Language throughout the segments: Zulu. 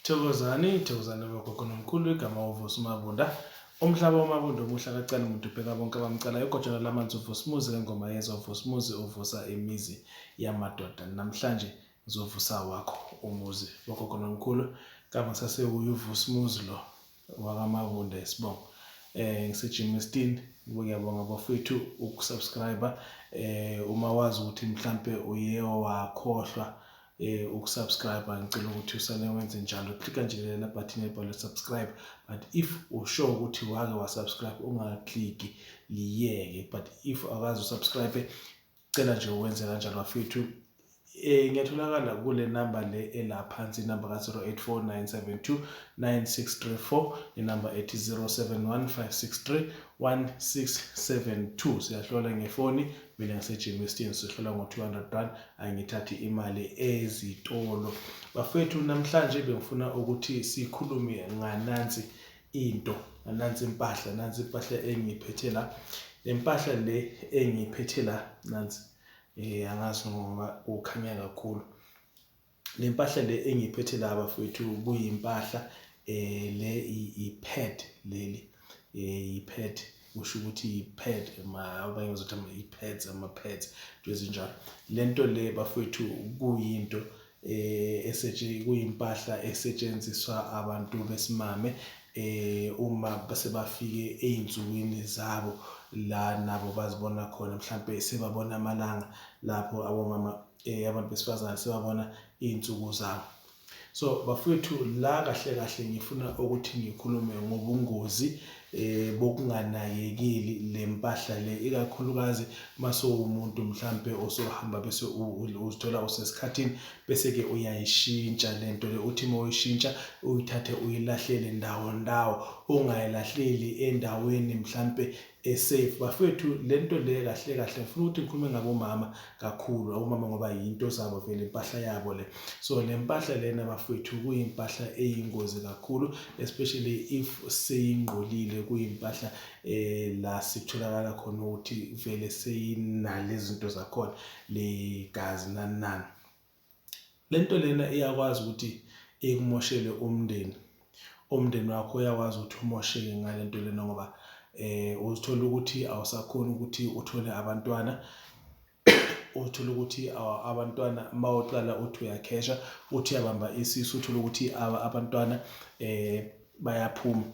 Thokozani, thokozani bogogo nomkhulu igama uVusi Mabunda. Umhlaba wamabunda omuhle akacali muntu ubheka bonke abamcalayo igojana lamanzi uVusimuzi ngengoma yezwa uVusimuzi uvusa imizi yamadoda. Namhlanje ngizovusa wakho umuzi bogogo nomkhulu kama sasewuye uVusimuzi lo. wakamabunda isibongo eh ngiseGermiston ngiyabonga bafethu ukusubscribe eh uma wazi ukuthi mhlambe uye wakhohlwa eh ukusubscribe ngicela ukuthi usane wenze njalo click nje lena button ebhalwe subscribe but if usure ukuthi wake wasubscribe ungaclick liyeke but if akazi usubscribe Cela nje uwenze kanjalo bafethu. Eh ngiyatholakala kule number le ela phansi inamba ka 0849729634 inamba ethi 0715631672 siyahlola ngefoni mina ngisejimi esithini sihlola ngo 200 rand angithathi imali ezitolo. Bafethu namhlanje bengifuna ukuthi sikhulume nganansi into nansi impahla nansi impahla engiyiphethe la lempahla le engiyiphethe la nansi eh angazi ngoba kukhanya kakhulu lempahla le engiyiphethe la bafethu kuyimpahla eh le i-pad leli eh i-pad usho ukuthi i-pad ma abanye bazothi ama-pads ama-pads into ezinjalo lento le bafethu kuyinto eh, kuyimpahla esetshenziswa abantu besimame eh uma sebafike ezinsukwini zabo la nabo bazibona khona mhlambe sebabona amalanga lapho abomama eh abantu besifazane sebabona izinsuku zabo so bafowethu la kahle kahle ngifuna ukuthi ngikhulume ngobungozi eh, eh bokunganakekeli lempahla le ikakhulukazi masowumuntu mhlambe osohamba bese uzithola usesikhathini bese ke uyayishintsha lento le uthi mawuyishintsha uyithathe uyilahlele ndawo ndawo ungayilahleli endaweni mhlambe esafe bafethu lento le kahle kahle ngifuna ukuthi ngikhulume ngabomama kakhulu omama ngoba yinto zabo vele impahla yabo le so le mpahla lena bafethu kuyimpahla eyingozi kakhulu especially if seyingqolile kuyimpahla eh la sitholakala khona ukuthi vele seyinale zinto zakhona le gazi nanani lento lena iyakwazi ukuthi ikumoshele umndeni umndeni wakho uyakwazi ukuthi umosheke ngalento lena ngoba eh uzithola ukuthi awusakhona ukuthi uthole abantwana uthola ukuthi abantwana uma uqala uthi uyakhesha uthi uyabamba isisu uthola ukuthi abantwana eh bayaphuma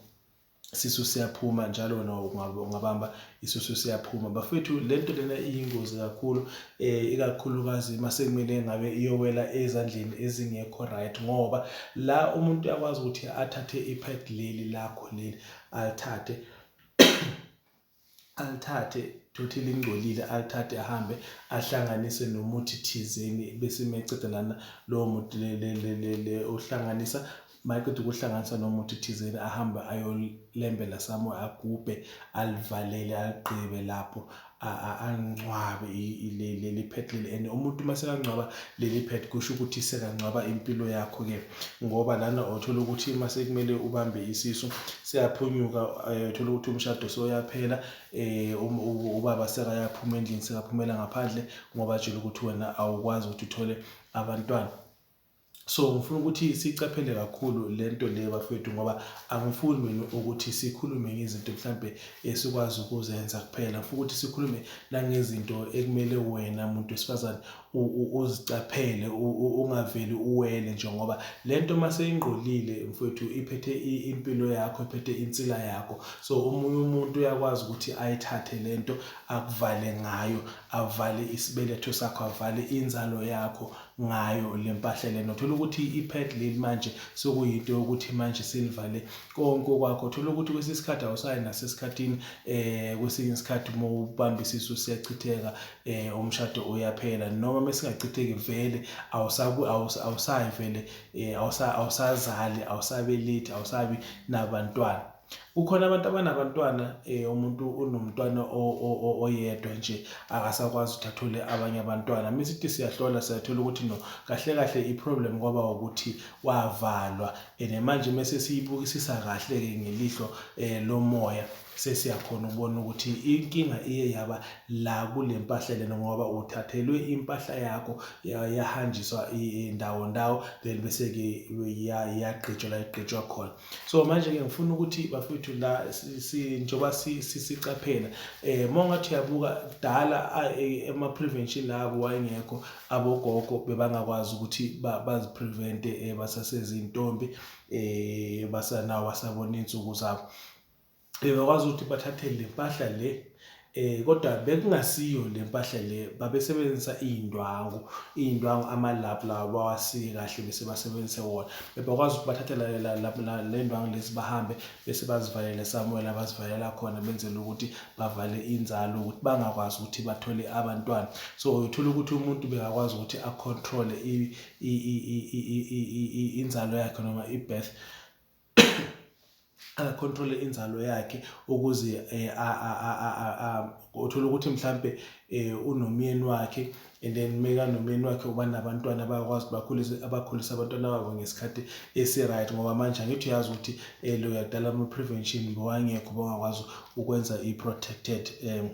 isisu siyaphuma njalo wena ungabamba isisu siyaphuma bafethu lento lena iyingozi kakhulu eh ikakhulukazi masekumele ngabe iyowela ezandleni ezingekho right ngoba la umuntu uyakwazi ukuthi athathe ipad leli lakho leli alithathe alithathe thothi lingcolile alithathe ahambe ahlanganise nomuthi thizeni bese meceda lana lowo muthi le uhlanganisa mayeqeda ukuhlanganisa nomuthi thizeni ahambe ayolembela somewhere agubhe alivalele aligqibe lapho angcwabe leli phethe leli and umuntu uma sekangcwaba leli phethe kusho ukuthi sekangcwaba impilo yakho-ke ngoba lana othola ukuthi uma sekumele ubambe isisu siyaphunyuka eh, uthola ukuthi umshado soyaphela eh, um, ubaba sekayaphuma endlini sekaphumela ngaphandle ngoba atshela ukuthi wena awukwazi ukuthi uthole abantwana so ngifuna ukuthi sicaphele kakhulu le nto le bafethu ngoba angifuni mina ukuthi sikhulume ngezinto mhlampe esikwazi ukuzenza kuphela ngifuna ukuthi sikhulume nangezinto ekumele wena muntu wesifazane uzicaphele ungaveli uwele nje ngoba le nto uma seyingqolile mfowethu iphethe impilo yakho iphethe insila yakho so omunye umuntu uyakwazi ukuthi ayithathe le nto akuvale ngayo avale isibeletho sakho avale inzalo yakho ngayo le mpahla lena uthola ukuthi i-pad leli manje sekuyinto yokuthi manje selivale konke okwakho uthola ukuthi kwesinye isikhathi awusayi nasesikhathini um kwesinye isikhathi uma ubambisisa usiyachitheka eh umshado uyaphela noma mesingachitheki vele awusaku awusayi vele eh awusa awusazali awusabelethi awusabi nabantwana kukhona abantu abanabantwana eh umuntu unomntwana oyedwa nje akasakwazi ukuthi athole abanye abantwana misithi siyahlola siyathola ukuthi no kahle kahle iproblem kwaba ukuthi wavalwa and manje mese siyibukisisa kahle ke ngelihlo eh lomoya sesiyakhona ukubona ukuthi inkinga iye yaba la kule mpahla lena ngoba uthathelwe impahla yakho yahanjiswa ndawo ndawo then bese-ke yagqitshwa la igqitshwa khona so manje-ke ngifuna ukuthi bafowethu la njengoba sicaphela um uma ungathi uyabuka kudala ema-prevention labo wayengekho abogogo bebangakwazi ukuthi baziprevente um basasezintombi um basanawo basabona iy'nsuku zabo bebakwazi ukuthi bathathe le mpahla le eh kodwa bekungasiyo le mpahla le babesebenzisa iy'ndwangu iy'ndwangu ama-lab lawa bawasike kahle bese basebenzise wona bebakwazi ukuthi bathathela le ndwangu lezi bahambe bese bazivalele samuwela bazivalela khona benzela ukuthi bavale inzalo ukuthi bangakwazi ukuthi bathole abantwana so uthola ukuthi umuntu bekakwazi ukuthi acontrole inzalo yakhe noma i-birth akacontrole inzalo yakhe ukuze eh, uthole ukuthi mhlampe eh, unomyeni wakhe and then meka nomyeni wakhe uba nabantwana bayakwazi bakhulise abakhulise abantwana babo ngesikhathi esi-right ngoba manje angithi uyazi ukuthi um loyadala ama-prevention bewangekho bangakwazi ukwenza i-protected um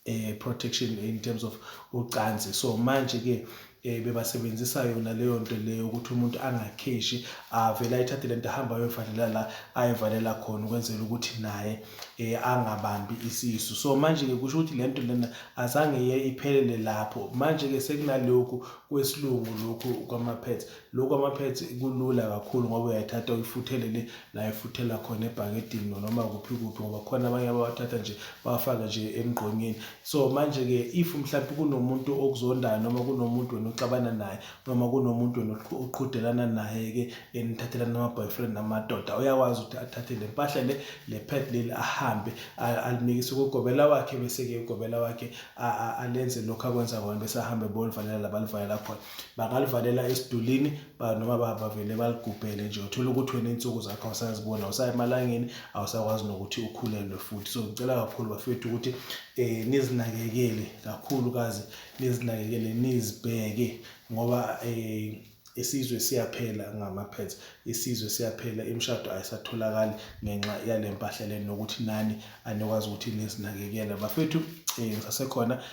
eh protection in terms of ucansi so manje ke eh bebasebenzisa yona leyo nto leyo ukuthi umuntu angakheshi avela ithathe lento ahamba ayovalela la ayivalela khona ukwenzela ukuthi naye eh angabambi isisu so manje ke kusho ukuthi lento lena azange iye iphelele lapho manje ke sekunalokhu kwesilungu lokhu kwama pads Lokhu kwama-pads kulula kakhulu ngoba uyayithatha uyifuthele le la ifuthela khona ebhakedini noma kuphi kuphi ngoba khona abanye abawathatha nje bawafake nje emgqonyeni so manje-ke if mhlawumbe kunomuntu okuzondayo noma kunomuntu wena oxabana naye noma kunomuntu wena oqhudelana naye-ke enithathelana ama-boyfriend namadoda uyakwazi ukuthi athathe le mpahla le le pad leli ahambe alimikise kugobela wakhe bese-ke ugobela wakhe alenze lokhu akwenza kona bese ahambe bolivalela la balivalela khona bangalivalela esidulini noma bavele baligubhele nje uthola ukuthi wena iy'nsuku zakho awusaziboni awusayi emalangeni awusakwazi nokuthi ukhulelwe futhi so ngicela kakhulu bafethu ukuthi um nizinakekele kakhulukazi nizinakekele nizibheke ngoba um isizwe siyaphela ngamaphetha isizwe siyaphela imishado ayisatholakali ngenxa yale mpahla le nokuthi nani anikwazi ukuthi nizinakekele bafethu um ngisasekhona